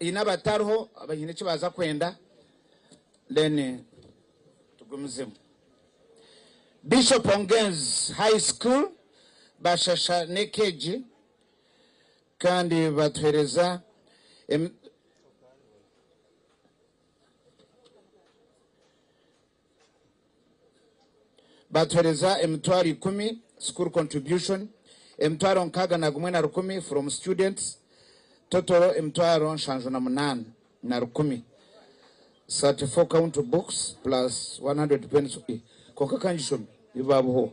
Haine abatariho abaine eki baaza kwenda then tugumizemu. Bishop Ongenz High School bashasha n'eka egi kandi batuhereza Baatuhereza emitwaro ikumi, school contribution, emitwaro nkaaga na gumwe na rukumi from students, total emitwaro nshanju na munaana na rukumi, 34 count books plus 100 pencils, kwonka ka ngishome, ebi baabuhooho.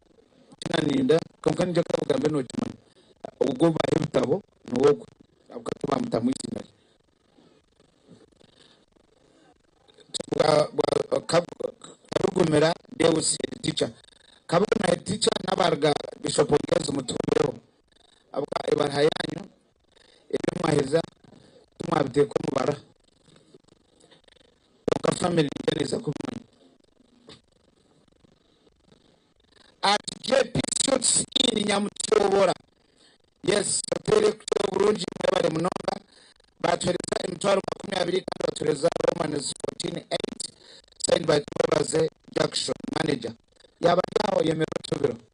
kinaninda kwonka ningira ku obugambe nokimanya ogu obaaha ebitabo niwe ogu ahabw'okuba tibamutamu eiziina rye Karugumira Deus head teacher Kabuguma head teacher n'abaaruga Bishop Ngenzi mutuhurireho ahabw'okuba ebaaha yaanyu ebi mwaheza timwabiteeka omu bara kwonka family yo neeza kubimanya. At JP Suits Inn Nyamutyobora yes hotel ekukira oburungi mwebare munonga batuhereza emitwaro makumi abiri kandi batuhereza Roman's fourteen eight signed by Twebaze Jackson manager yaaba ari aho oyemerwe otubiro.